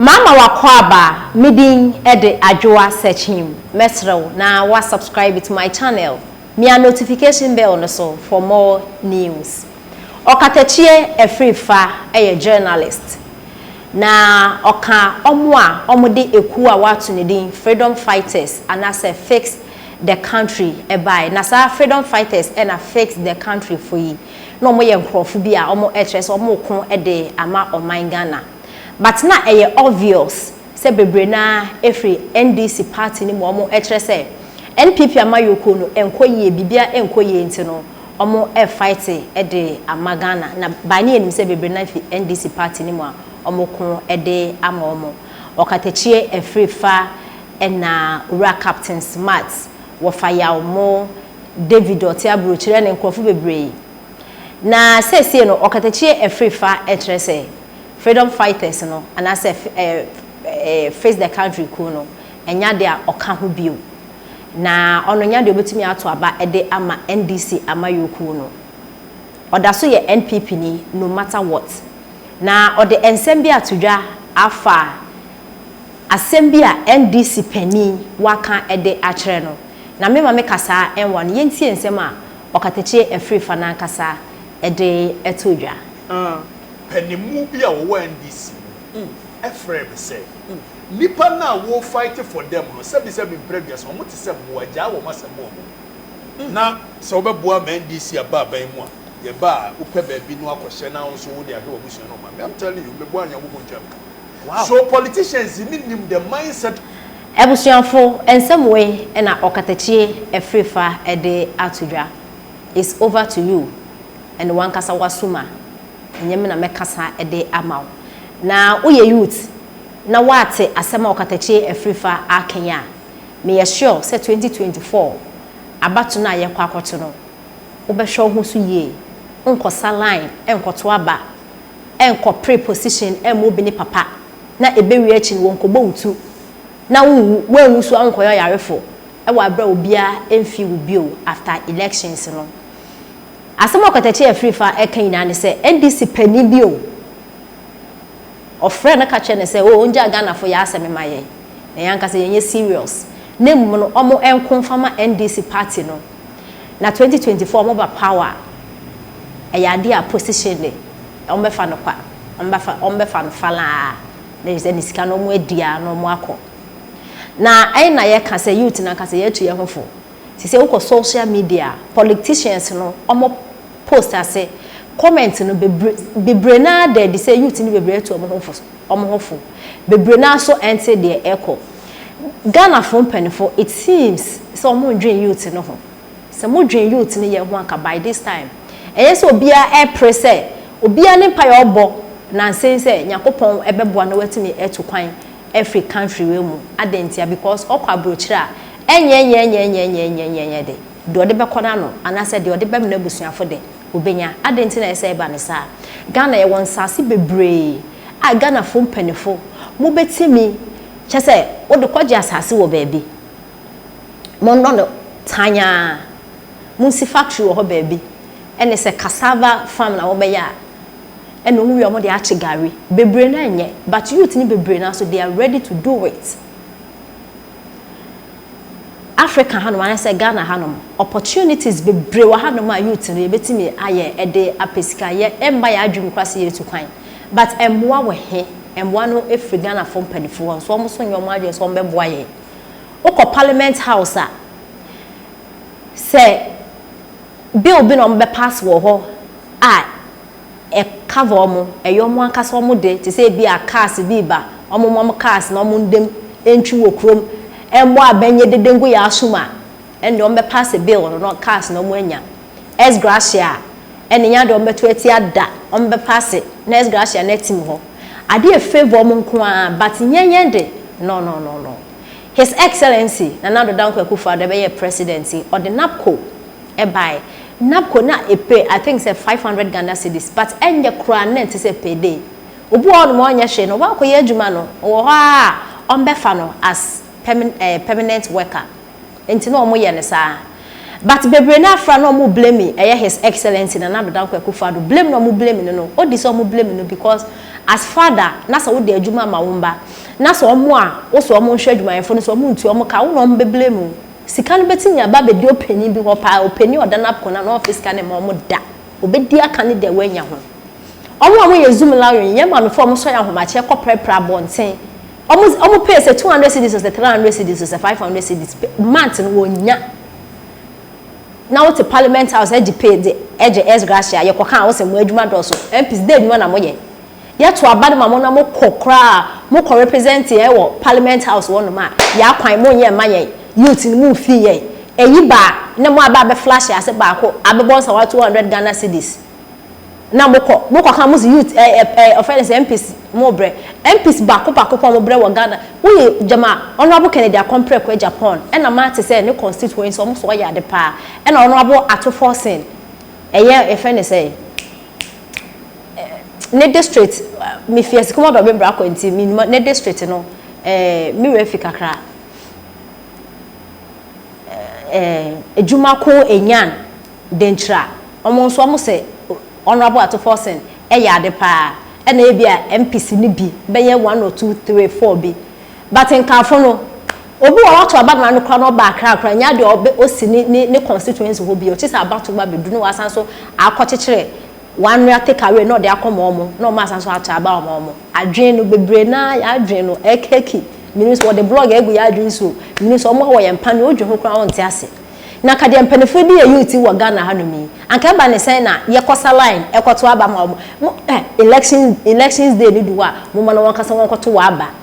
Mama w'akwaaba, me din de Adwoa Sekyim, mɛsrɛ wo na wa subscribe to my channel, mia notification bell no so for more news. Ɔkatakyie Afrifa yɛ journalist na ɔka wɔn a wɔde ekuo a w'ato ne din Freedom Fighters anaasɛ Fix the Country baeɛ na saa Freedom Fighters na Fix the Country foɔ yi na wɔyɛ nkorɔfo bi a wɔkyerɛ sɛ wɔreko de ama ɔman Ghana. But na ɛyɛ obvious sɛ bebree no ara ɛfiri NDC party no mu a wɔn ɛkyerɛ sɛ NPP amayɔkuo no ɛnkɔ yie, biribiara ɛnkɔ yie nti no wɔn ɛrefighte de ama Ghana na by ne yɛnim sɛ bebree no ara fi NDC party no mu a wɔn ko de ama wɔn. Ɔkatakyie ɛfiri fa ɛna Owura Captain Smart, wɔfa yaw mo, David ɔte aburokyire ɛne nkorɔfo bebree. Na seesei no ɔkatakyie ɛfiri fa ɛkyerɛ sɛ Freedom Fighters no anaasɛ Face the Country kuo no nnya deɛ a ɔka ho bio na ɔno nnya deɛ ɔbɛtumi ato aba de ama NDC amayɔkuo no. Ɔda so yɛ NPP ni no matter what. Na ɔde nsɛm bi ato dwa afa asɛm bi a NDC panin waka de akyerɛ no. Na me ma me ka saa nwa no yɛntie nsɛm a ɔkatakyie afirifa no ankasa de to dwa. panimu bi a wɔwɔ NDC mu frɛɛ me sɛ, Nnipa no a wo fight for them no, sɛbisɛbi mprɛduasa, wɔn te sɛ mmoa, gyaa wɔn asɛm bɔ wɔn mu. Na sɛ wobɛboa ma NDC aba aban mu a, yɛba a, wopɛ baabi no akɔhyɛ na wo nso wode ahwɛ w'abusua ne wo maame. I'm telling you, meboa Nyankopɔn ntwaa me ka. So politicians no nim the mindset of. Abusuafo, nsɛm wei na Ɔkatakyie afirifa de ato dwa. It's over to you. Ɛne w'ankasa w'asom a, ɛnyɛ me na mɛkasa de ama wo. Na woyɛ youth na woate asɛm a ɔkatakyie afiri fa aken a, meyɛ sure sɛ twenty twenty four abato no a yɛkɔ akɔto no, wobɛhwɛ wo ho so yie, nkɔsa line, nkɔto aba, nkɔpere position mma obi ne papa, na ɛbɛwie akyi no wɔnkɔbɔ wo tu na wonwu, woanwu so a wonkɔyɛ ɔyarefo wɔ aberɛ a obiara mfii wo bio after elections no. Asɛm a Ɔkwataci Afrifa reka nyinaa ne sɛ NDC panin bi o, ɔfrɛɛ no ka kyerɛɛ no sɛ o ɔngyaa Ghanafo yɛ asɛm mma yɛn, na yɛn ankasa yɛnyɛ serious, na mmom no wɔn nko mfa ma NDC party no, na 2024 wɔba power a, ɛyɛ adeɛ a position de, wɔbɛfa no kwa, wɔbɛfa, wɔbɛfa no falaa, that is ɛne sika no wɔadi ara na wɔakɔ. Na ɛn na yɛka sɛ youth no ankasa yɛatu yɛn ho fo. Te sɛ wokɔ social media a politicians no ɔmo post ase comment no bebre bebree no ara da adi sɛ youth no bebree atu ɔmo ho fo ɔmo ho fo. Bebree no ara nso ɛnte deɛ ɛkɔ. Ghana foɔ mpaninfoɔ it seems sɛ ɔmo ndwen youth no ho. Sɛ mo dwen youth no yɛ ho anka by this time ɛyɛ sɛ obiara ɛpre sɛ obiara ne mpaeɛ ɔbɔ nansen sɛ Nyankopɔn ɛbɛboa no watumi atu kwan afri country wei mu. Adɛn ntia? Because ɔkɔ abrokyire a Ɛnyɛ nyɛɛnyɛɛnyɛɛnyɛɛnyɛɛnyɛɛnyɛɛ de, deɛ ɔde bɛkɔ n'ano anaasɛ deɛ ɔde bɛma n'abusuafo de, ɔbɛnya. Adɛn nti na ɛsɛ sɛ ɛba no saa? Ghana, yɛwɔ nsaase bebree a Ghanafoɔ mpaninfoɔ mobɛtumi, kyerɛ sɛ, wode kɔgye asaase wɔ baabi, monnɔ no tan ara, monsi factory wɔ hɔ baabi, ɛne sɛ cassava farm na mobɛyɛ a, ɛne wɔn wie a wɔde akye gari. Bebree no ara nyɛ, but youth no bebree no ara nso, they are ready to do it. Africa hanom anaasɛ Ghana hanom, opportunities bebree wɔ hanom a youth no yɛbɛtumi ayɛ de apɛ sika. Yɛ ɛmma yɛn adwene mu koraa sɛ yɛretu kwan. But mmoa wɔ he? Mmoa no firi Ghanafoɔ mpaninfoɔ hɔ, nso wɔn nso nyɛ wɔn adwene sɛ wɔbɛboa yɛn. Wokɔ Parliament House a, sɛ bill bi na wɔbɛ pass wɔ hɔ a, cover wɔn, ɛyɛ wɔn ankasa wɔn de, te sɛ ebi a cars bi reba, wɔn wɔn cars na wɔn ndam ntwi wɔ kurom, ɛmmɔ abɛn nyɛ dede ngu yɛn aso mu a, ɛnde wɔn bɛ pass bill no na cars na wɔn anya. Ex gratia a, ɛnde nyɛ ade a wɔn bɛto atia da, wɔn bɛ pass na ex gratia no atim hɔ. Ade a favour wɔn nko ara, but nyɛ yɛn de, no no no no. His Excellency Nana Addo Dankwa Akufo-Addo ɛbɛyɛɛ President yi, ɔde NAPCO, ɛbae na mpo na ɛpɛ I think sɛ five hundred Ghana cedis but ɛnyɛ koraa na ɛnte sɛ per day obi wɔ hɔ nom ɔnyɛ hwee no waakɔ yɛ adwuma no ɔwɔ hɔ ara a wɔbɛfa no as permanent ɛɛ permanent worker nti na wɔyɛ no saa but bebree no ara fra na wɔn blame ɛyɛ his excellency Nana Addo Dankwa Akuffo Addo blame na wɔn blame no no odi sɛ wɔn blame no because as father na sɛ wode adwuma ma wo mma na sɛ wɔn a wo sɛ wɔn nhwɛ adwumayɛfo no sɛ wɔn ntua wɔn ka wo na wɔn bɛ blame wo. Sika no bɛtumi aba abɛdi ɔpanin bi hɔ paa, ɔpanin a ɔda n'apono ano a ɔmfa sika no mma wɔn da. Ɔbɛdi aka ne deɛ wanya ho. Wɔn a wɔyɛ Zoom Lawyering, yɛn maamefoɔ a wɔsɔ yɛn ahomakyeɛ kɔprapra abɔnten, wɔn, wɔn pay sɛ two hundred cedis o, sɛ three hundred cedis o, sɛ five hundred cedis, month no wɔnnya. Na wote Parliament House gye pay de, gye ex gratia, yɛkɔka a wose mo adwuma dɔɔso. MPs, dɛ adwuma na moyɛ? Yɛ to aba no ma mo na mo kɔ koraa mo kɔ represent yɛn wɔ parliament house hɔ nom a yaa kwan mo nyɛ mma yɛn youth no mo nfii yɛn ayi baa na mo aba abɛ flash ase baako abɛ bɔ nsawa two hundred Ghana cedis na mo kɔ mo kɔ ka mo se youth ɛɛ ɛɛ ɔfrɛ ne sɛ MPs mo brɛ MPs baako baako pɔ mo brɛ wɔ Ghana wo yɛ gyama honourable Kennedy Akomprɛ Kwei Japan ɛna ma te sɛ ne constituency ɔmo so ɔyɛ ade paa ɛna honourable Ato Forson ɛyɛ yɛfrɛ ne sɛ. ne district me fi asikom ɔdɔ me bra kɔ nti me ne district no ɛɛ me wura fi kakra ɛɛ adwuma ko enyan denkyira wɔn nso wɔn sɛ honourable ato forsen ɛyɛ ade paa ɛna ebi a mpc ne bi bɛyɛ one or two three four bi. But nkaafo no, obi wɔ hɔ wato aba na no koraa na ɔba Accra koraa nyaa deɛ ɔbɛ ɔsi ne ne ne constituency hɔ bio, kyesɛ abato ba bɛduru na wasan so akɔ kyekyere one nua take away na ɔde akɔ ma ɔmo na ɔmo asan so ato aba ama ɔmo. Adwene no bebree no ara yɛn adwene no ɛkɛki, menim sɛ wɔde blog agu yɛn adwene so o, menim sɛ ɔmo a wɔ yɛn mpa no wodwene ho koraa wonte ase. Na ka deɛ mpaninfoɔ di yɛ youth yi wɔ Ghana ha nom yi, anka ɛba ne sɛn na yɛkɔ sa line ɛkɔto aba ma ɔmo, mo eh elections elections day no du hɔ a moma no wɔn ankasa wɔn kɔto wɔ aba.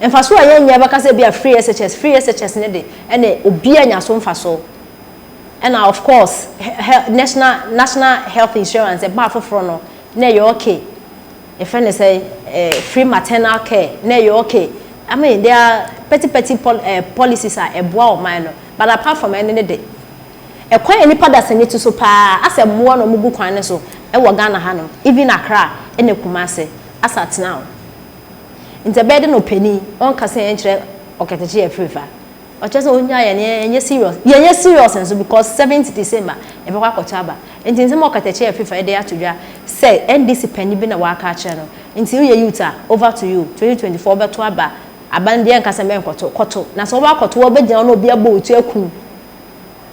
Mfaso a yɛnnyɛ bɛka sɛ ebia free SHS, free SHS no de ɛne obiara nya so mfaso. Ɛna of course hɛ national national health insurance ɛbaa foforɔ no na ɛyɛ okay. Yɛfrɛ no sɛ eh, free maternal care na ɛyɛ okay. I mean there are petty petty pol eh, policies a ɛboa ɔman no but apart from ɛno no de, ɛkwan a nnipa da sani to so paa asɛ mmoa na wɔgu kwan no so ɛwɔ Ghana hanom even Accra ɛne Kumasi as at now. Ntsi ɛbɛyɛ dɛn na ɔpanyin ɔnnkã sɛ yɛnnkyerɛ ɔkɛtsɛkyɛ yɛ fir fa? Ɔkyerɛ sɛ ohia yɛn na yɛnyɛ serious. Yɛnyɛ serious so because seventh December yɛbɔkɔ akɔto aba. Ntsi nsɛm a ɔkɛtsɛkyɛ yɛ fir fa yɛde ato dwa sɛ NDC panyin bi na ɔaka akyerɛ no. Ntsi woyɛ youth a, over to you, twenty twenty four bɛto aba, aba no deɛ yɛnnka sɛ mɛnnkɔto, kɔto. Na sɛ wobakɔto a wobɛgyina hɔ na obi abɔ wo tu aku wo,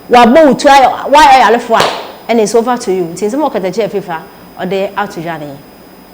wabɔ wo tu ayɛ, wayɛ ɔyarefo a, ɛnna it's over to you. Ntsi nsɛm a ɔkɛtsɛkyɛ yɛ fir fa ɔde ato dwa no nye.